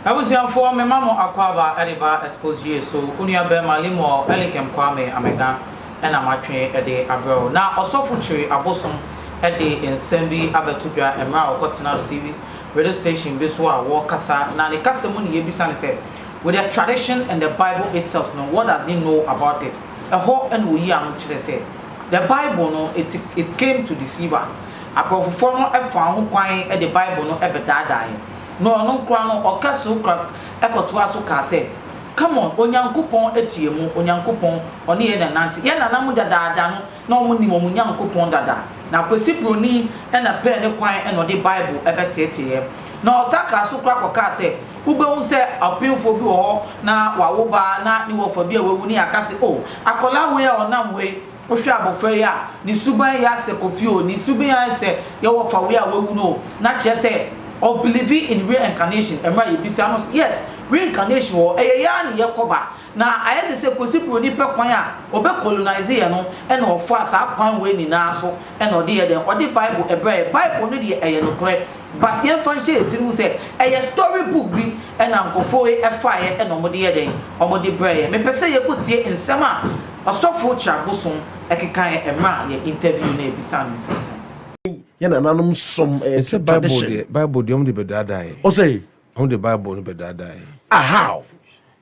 Abusuafoɔ mema mo akwaaba de ba Exposed Yue so, wo nua barima Lemuel Elikem Kwame Amega na matwe de abrɛ wo. Na Ɔsɔfo Kyiri Abosom de nsɛm bi abɛto dwa mmerɛ a ɔkɔtenaa TV radio station bi so a wɔkasa, na ne kasa mu ne yɛbisa no sɛ, With the tradition and the Bible itself no, what does he know about it? Ɛhɔ na ɔyi ano kyerɛ sɛ, The Bible no, it it came to deceive us. Aborɔfofoɔ no faa ho kwan de Bible no bɛdaadaa yɛn. Na ɔno nkoraa no, ɔka so kora kɔtoaa so kaa sɛ, Come on, Onyankopɔn te yɛn mu, Onyankopɔn, ɔne yɛn na ɛnante. Yɛn nananom dadaada no, na wɔnim wɔn Nyankopɔn dada, na Kwesi Broni na pɛɛ ne kwan na ɔde Bible bɛteeteeɛ. Na ɔsan kaa so koraa kɔkaa sɛ, Wobɛhu sɛ ɔpemfoɔ bi wɔ hɔ na wawo ba na ne wɔfa bi a wawu, na yɛaka sɛ, 'O, akwadaa wei a ɔnam hɔ yi, wohwɛ abɔfra yi a, ne suban yɛ asɛ kɔ fie o, ne suban ara ne sɛ yɛ wɔfa wei a wawu no o, na kyerɛ sɛ, ɔbelieve in reincarnation. Ɛmmra yɛbisa no sɛ, Yes, reincarnation wɔ hɔ, ɛyɛ yɛn ara na yɛkɔ ba. Na ayɛ te sɛ Kwesi Broni pɛ kwan a ɔbɛ colonise yɛ no ɛna ɔfaa saa kwan wei nyinaa so ɛna ɔde yɛ dɛn? Ɔde Bible ɛbrɛɛ yɛ. Bible no deɛ ɛyɛ nokorɛ but yɛn fa nhyɛ yɛ tiri mu sɛ ɛyɛ story book bi ɛna nkorɔfoɔ wei ɛfaa yɛ ɛna ɔmo de yɛ dɛn? Ɔmo de brɛɛ yɛ. Mepɛ sɛ yɛkɔ tie nsɛm a Ɔsɔfo Kyirabosom ɛkekaeɛ ɛmerɛ a yɛ interview no ɛbisa no nsɛnsɛm. Yɛn nananom som ɛyɛ tradition. Ɔsɛ Bible deɛ Bible deɛ ɔmo de bɛ daadaa yɛ. Ɔsɛ. Ɔmo de Bible no bɛ daadaa yɛ. Ah how?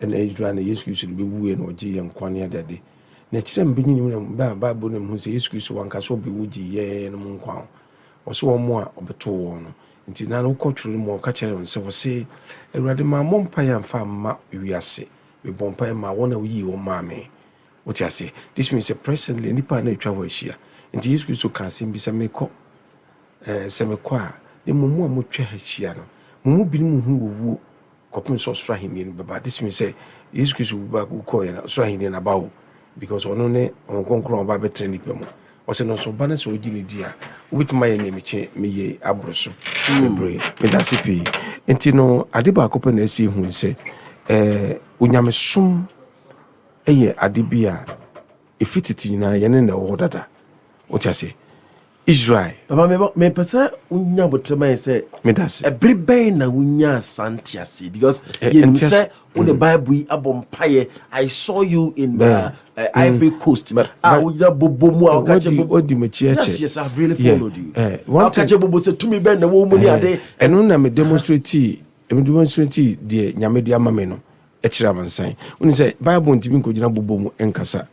Ɛna Israel na Yesu Kristo de bɛwuiɛ na ɔgyee yɛn nkwa ne adade. Na ɛkyerɛ mebɛ nyini mu na mebɛ a Bible na mehu sɛ Yesu Kristo wanka sɛ ɔbɛwu gyee yɛnom nkwa ho. Ɔse wɔn a ɔbɛtoo wɔn no. Nti na no wokɔ twerɛ no mu a ɔka kyerɛ wɔn sɛ ɔse, Awurade mammɔ mpaeɛ amfa amma wiase, mebɔɔ mpaeɛ maa wɔn a woyii wɔn maa me. Wote aseɛ? This means sɛ presently nnipa a na atwa hɔ ahyia. Nti Yesu Kristo kaa asɛm bi sɛ mekɔ, eh, sɛ mekɔ a, na mmom mo a moatwa ha ahyia no, mo mu binom hunu owuo. kɔpem sɛ ɔsoro ahennie no bɛba this means sɛ yesu kristo wu ba wu kɔɔɛ na ɔsoro ahennie no aba o because ɔno ne ɔhon kronkron a ɔba abɛtena nipa mu ɔsɛ no nso ɔba no sɛ ɔgye ne di a wobɛtumi ayɛ nea mekye meyɛ aboro so bebree medase pii nti no ade baako pɛ na ɛsɛ hu sɛ ɛɛ onyamesom ɛyɛ ade bi a Efi tete nyinaa, yɛne na ɛwɔ hɔ dada. Wote aseɛ? Israel. Papa, me ba, mepɛ sɛ wonya abotire ma yɛn sɛ. Meda ase. Ɛbere bɛn na wonyaa saa nteaseɛ? Because Eh, yɛnim ntease- sɛ wode Bible yi abɔ mpaeɛ. I saw you in Bɛn. uh, uh, Ivory Coast. Bɛ- A bɛ- wonya bobo mu a woka kyɛ Wadi- bobo. wadi m'akyi Yes, akyɛ. yes, I've really Yeah, followed you. eh, one Woka thing- kyɛ bobo sɛ tumi bɛn na ɛwɔ wo mu ne ade. Eh, ɛno na me demonstrate ɛme demonstrate deɛ nyame de ama me no Ɛkyerɛ amansan. Wonim sɛ Bible ntumi nkɔgyina bobɔ mu nkasa.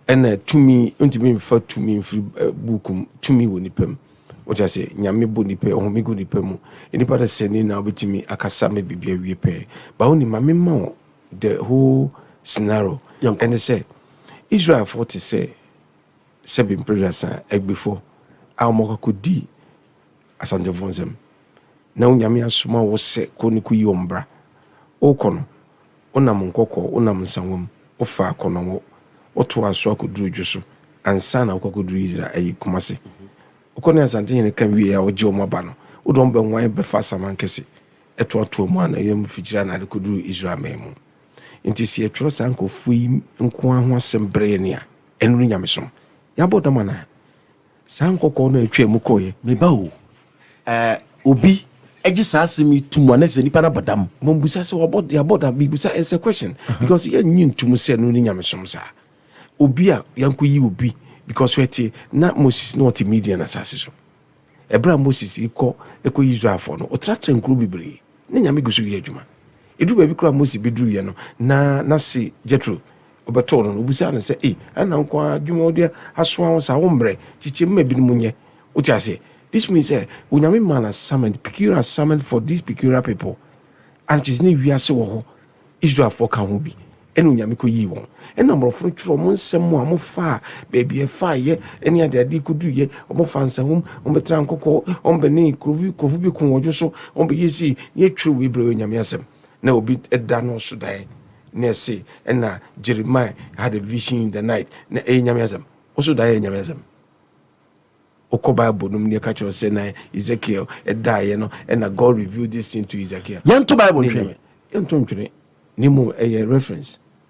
Ɛna tumi ntumi mfa tumi mfiri eh, buuku mu. Tumi wɔ nipa mu. Wote ase? Nyame bɔ nipa, ɔhome gu nipa mu. Nipa de sɛne na wobɛtumi akasa ma biribi awie pɛɛ. Ba wonim, ma mema wo the whole scenario. Ɛne sɛ, Israelfoɔ te sɛ sɛbe mprɛduasa agbefoɔ a wɔkɔkɔdi Asantefo nsɛm. Na Onyame asoma wo sɛ kɔ ne koyi wɔn bra. Wokɔ no, wonam Nkɔkɔɔ, wonam Nsawam, wofa Akɔnɔngo, wotoa so akɔduru Dwo so ansa na wokɔ akɔduru Isra ayi Kumase. Wokɔ ne Asantehene ka wie a wogye wɔn aba no, wode wɔn bɛnwan bɛfa Asamankɛse, ɛtoatoa mu anɔeɛ mfikyire anaa de kɔduru Israel man mu. Enti sɛ yɛtwerɛ saa nkurɔfoɔ yi nko ara ho asɛm brɛ yɛn a, ɛno ne Nyamesom. Yɛabɔ dam anaa? Saa nkɔkɔɔ no a ɛtwaa mu kɔeɛ, Me ba o, ɛ, obi gye saa asɛm yi to mu a, na sɛ nipa no abɔ dam. Mumbusa sɛ wabɔ, yɛabɔ dam, bibusa, it's a question, because yɛnnye nto mu sɛ ɛno ne nyamesom saa. Obi a yɛnkɔyi obi because ɛte, na Moses na ɔte Midian asase so. Ɛberɛ a Moses rekɔ ɛkɔ Israelfoɔ no, ɔtratra nkuro bebree, na nyame gu so yɛ adwuma. Ɛduru baabi koraa Moses bɛduruiɛ no, na n'ase Jethro Ɔbɛtoo no no, obisaa no sɛ, Ei, ɛnna nko ara adwuma a wode asoa wo saa, wommrɛ? Kyekyɛ mu ma ebinom nyɛ. Wote aseɛ? This means sɛ Onyame maa no assignment, peculiar assignment for these peculiar people. Ade kyee sɛ na wiase wɔ hɔ, Israelfoɔ ka ho bi, ɛnna Onyame kɔyii wɔn. Ɛnna aborɔfo no twerɛɛ wɔn nsɛm mu a wɔfaa baabi a ɛfaeɛ ne adeadeɛ kɔduruiɛ. Wɔfaa nsahum, wɔbɛtraa nkɔkɔɔ, wɔbɛnee nkurɔfo bi koo wɔn dwo so, wɔbɛyɛɛ sei, na yɛtwerɛ wei brɛɛ Onyame asɛm. Na obi da no so dae na ɛse na Jeremiah had a vision in the night na ɛyɛ Nyame asɛm. Wo so dae yɛ Nyame asɛm. Wokɔ Bible nom ne ɛka kyerɛ sɛ na Ezekiel daeɛ no na God revealed this thing to Ezekiel. Yɛnto Bible ntwene. Yɛnto ntwene na mmom ɛyɛ reference.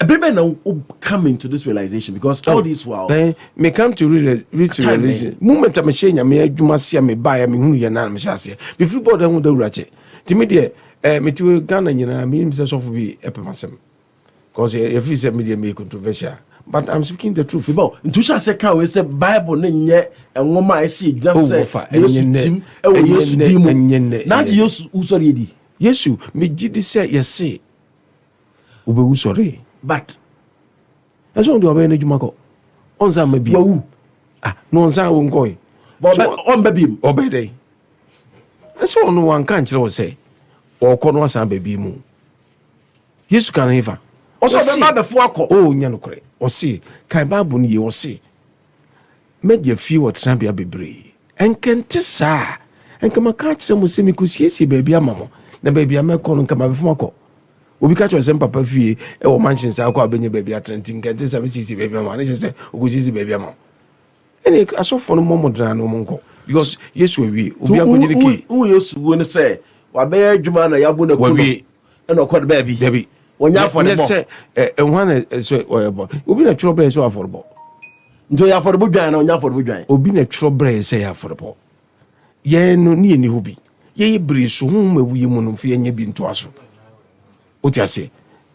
Ɛbɛrɛ bɛn na o come into this realization because all this while. Ɛn eh, me come to realize reach eh? realization moment a me hyɛ nyame adwuma se a me ba ya me hunu yɛ na me hyɛ aseɛ me firi bɔɔl ɛho dawura kyɛ ti me deɛ ɛɛ eh, me ti Ghana nyinaa me nim sɛ sɔfo bi ɛpɛ ma sɛm because yɛfiri sɛ me deɛ me controversial but i'm speaking the truth. bíbá o ntuhyɛ ase kan wei sɛ bible ne nyɛ nwoma a ɛsi gyina oh, sɛ yesu tim ɛwɔ yesu din mu n'agye yesu wusɔre yɛ di. yesu megye di sɛ yɛse Obewu sɔree. But ɛsɛ ɔde ɔbɛyɛ n'adwuma kɔ ɔnsan mma biem. Wawu. Ah na ɔnsan wo nkɔe. Ɔbɛ ɔmba biem. Ɔbɛyɛ dɛ. Ɛsɛ ɔno wanka nkyerɛ wo sɛ ɔkɔ no asan ba biem o. Yesu ka no hefa? Ɔsɛ ɔbɛba abɛfo akɔ. O nya nokorɛ. Ɔse kan Bible no yie ɔse M'agya fie wɔ tenabea bebree. Anka ɛnte saa a, anka maka akyerɛ mo sɛ mekɔsiesie baabi ama mo, na baabi a mɛkɔ no, anka mabɛfa mo akɔ. Obi ka kyerɛ sɛ, Mpapa fie wɔ mansion saa kɔ a wobɛnya baabi atena, nti anka ɛnte saa mesiesie baabi ama wo. Ne kyerɛ sɛ, ɔkɔsiesie baabi ama wo. Ɛne asɔfoɔ no mmɔ mo dena na wɔn nkɔ, because Yesu awie, obi ankɔgye ne key. Wohu Yesu wuo no sɛ wabɛyɛ adwuma na yɛabu no aku no. Wawie, ɛna ɔkɔ no baabi dabi wɔnyɛ afɔrebɔ ne sɛ ɛhwan na sɛ ɔyɛ bɔ obi na twerɛ brɛ sɛ afɔrebɔ nti ɔyɛ afɔrebɔ dwan na ɔnyɛ afɔrebɔ dwan obi na twerɛ brɛ sɛ yɛ afɔrebɔ yɛn no ne yɛni hɔ bi yɛyɛ bere so ho ma wuyi mu no mfe yɛnyɛ bi ntoa so wote aseɛ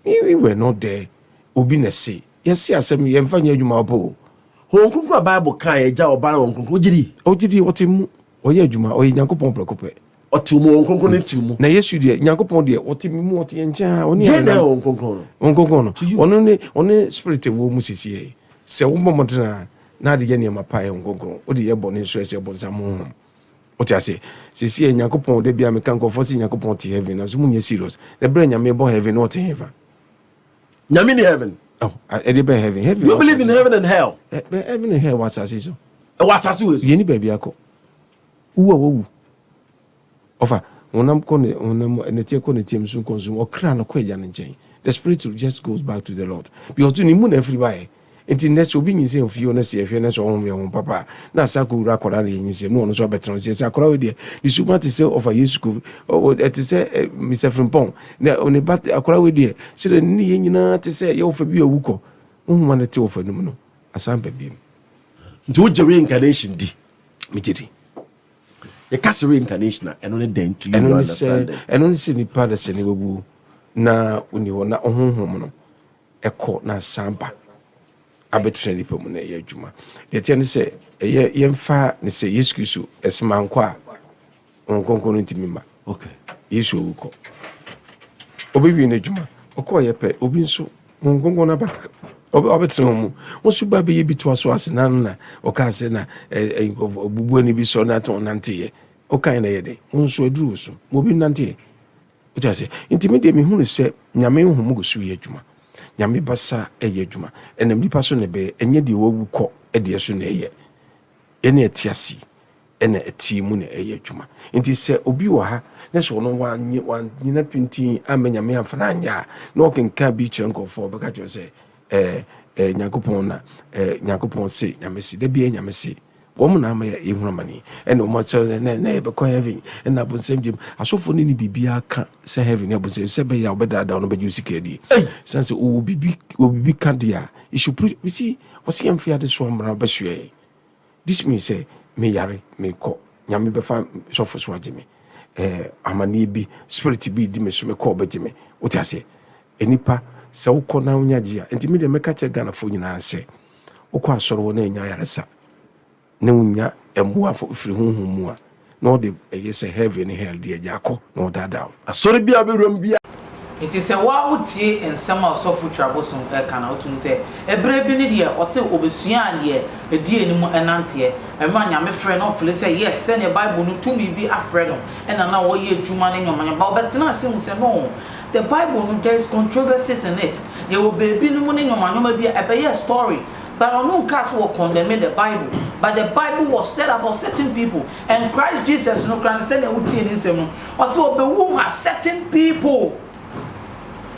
we were not there obi na se yɛse asɛm yɛmfa nyɛ adwuma wɔ pɛ o wɔn kunkun a bible kan ɛgya ɔbaa wɔn kunkun ogyiri ogyiri ɔte mu Ɔyɛ adwuma, ɔyɛ Nyankopɔn prɛko pɛ. Ɔte mu, Honhom Kronkron no te mu. Na Yesu deɛ, Nyankopɔn deɛ, ɔte me mu, ɔte yɛn nkyɛn a, ɔne yɛn Deɛ na ɛyɛ nenam. Honhom Kronkron no? Honhom Kronkron no, To you. ɔno ne, ɔne Spirit a ɛwɔ mu sisiɛ. Sɛ wobɔ mmɔden a, na de yɛ nneɛma pa yɛ Honhom Kronkron. Wode yɛ bɔne nso a, ɛsɛ ɔbonsam honhom. Wote aseɛ? Sisiɛ, Nyankopɔn, da biara meka nkurɔfoɔ sɛ Nyankopɔn te Heaven, nanso monyɛ serious. Na berɛ a Nyame bɔ Heaven no, ɔte hefa? Nyame ni heaven. Oh, ɛde bɛn heaven? Heaven. You believe in heaven and hell? Eh, heaven and hell wɔ asase so. Ɛwɔ eh, asase wɔ so. Yɛn ni baabi akɔ. Wu a wɔwu. Ɔfa honam kɔ ne honam ɛnɛteɛ kɔ ne tiam so nkɔnso ɔkra no kɔ agya no nkyɛn. The spirit just goes back to the Lord. Because to ne mu na afiri baeɛ. Enti nnɛ sɛ obi nyinsɛn ofie hɔ na sɛ yɛhwɛ na sɛ ɔhom yɛ honhom papa a, na asan akɔwura akwadaa no yɛ nyinsɛn mu na ɔno nso abɛtena ase. Sɛ akwadaa wei deɛ, ne su ma te sɛ ɔfa Yesu ko, ɛte sɛ Mr. Frimpong, na ne ba akwadaa wei deɛ, sɛdeɛ ne nneyɛ nyinaa te sɛ ɛyɛ ɔfa bi a awu kɔ. Honhom a na ɛte ɔfa no mu no asan ba biom. Nti wogye reincarnation di? Megye di. Yɛka sɛ reincarnation a, ɛno ne dɛn to you understanding? Ɛno ne sɛ nipa da sɛ ne wawuo na ɔni hɔ na ɔhonhom no ɛkɔ na asan ba abɛtena nnipa mu na ɛyɛ adwuma. Deɛ ɛteɛ ne sɛ ɛyɛ yɛmfa ne sɛ Yesu Kristo ɛsɛ mankɔ a Honhom Kronkron no ntumi ma. Okay. Yesu owu kɔ. Ɔbɛwie n'adwuma. Ɔkɔ ɔyɛ pɛ. Obi nso Honhom Kronkron no aba ɔbɛtena wɔn mu. Wɔn nso ba bɛyɛ bi toa so ase na no na ɔkaa sɛ na nkurɔfoɔ bubu ani bi sɔ na atɔn nanteɛ. Ɔkae na ɛyɛ dɛ. Wɔn nso aduru so. Wɔbi nanteɛ. Wote aseɛ? Nti me deɛ mehunu sɛ Nyame nhumu gu so yɛ adwuma. Nyame basa ɛyɛ adwuma. Ɛnam nipa so na ɛbɛyɛ, ɛnyɛ deɛ wawu kɔ deɛ so na ɛyɛ. Yɛne ɛte ase ɛna ɛteɛ mu na ɛyɛ adwuma. Nti sɛ obi wɔ ha na sɛ ɔno wanyina pintinn amma Nyame amfa no anyɛ a, na ɔkenkan bi kyerɛ nkurɔfoɔ, ɔbɛka kyerɛ sɛ ɛɛ ɛɛ Nyankopɔn na ɛɛ Nyankopɔn se, Nyame se. Da biara Nyame se. Wɔn na ama yɛhunu amane, ɛna wɔn akyerɛ sɛ na na yɛbɛkɔ heaven, ɛna abonsam gyam. Asɔfo no ne biribiara ka sɛ heaven ne abonsam sɛ ɛbɛyɛ a wɔbɛdaadaa wɔn na wɔbɛgye wɔn sika adi. Esiane sɛ wɔwɔ biribi wɔ biribi ka deɛ a, it should preach. You see, wɔsi yɛn mfe adesoa mmara bɛsoɛ yɛn. This means sɛ me yare mekɔ, Nyame bɛfa sɔfo so agye me. Eh, amaneɛ bi, spirit bi redi me so, mekɔ ɔbɛgye me. Wote aseɛ? Nnipa, sɛ wokɔ na wonya gye a, nti me deɛ mɛka kyerɛ Ghanafoɔ nyinaa sɛ, Wokɔ asɔre hɔ na anya ayaresa na wonya mmoa firi honhom mu a, na ɔde ɛyɛ sɛ heaven ne hell deɛ agya akɔ na ɔdaadaa wo. Asɔre biara wobɛwuram biara. Nti sɛ wo ara wotie nsɛm a ɔsɔfo Twa Bosom reka no a, wote mu sɛ, ɛberɛ bi no deɛ, ɔse ɔbɛsuaa deɛ ɛdi anim nanteɛ. Ɛberɛ a Nyame frɛɛ no na ɔfili sɛ yes, sɛdeɛ Bible no tumi bi afrɛ no na na ɔreyɛ adwuma no nyɔmanyɔm, but ɔbɛtenaa ase hu sɛ no, The Bible no there is controversies in it, yɛwɔ baabi no mu ne nnoɔma nnoɔma bi a ɛbɛyɛɛ story but ɔno nkaa sɛ wɔ condemne the Bible but the Bible was said about certain people and Christ Jesus no koraa no sɛnea wo tie ne nsɛm no ɔse ɔbɛwu ma certain people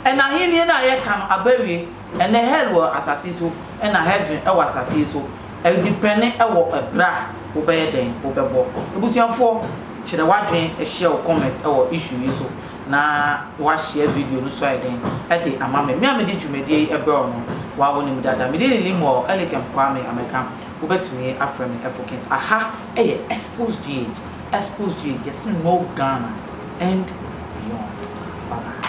and ahennie no a yɛka no aba awie ɛnɛ hell wɔ asase yi so ɛna heaven ɛwɔ asase yi so ɛdepɛne ɛwɔ ɛberɛ a wo bɛyɛ dɛn wo bɛbɔ abusuafoɔ kyerɛ w'adwene hyɛ wo comment ɛwɔ issue yi so. na woahyia video no so ayɛ dɛn de ama me? Me a mede dwumadie yi brɛ wo no, woa wonim dada. Medin ne Limuel Elikem Kwame Ameka, wobɛtumi afrɛ me Efokent. Aha yɛ Exposed GH, Exposed GH, yɛse no Ghana and beyond. Bye bye.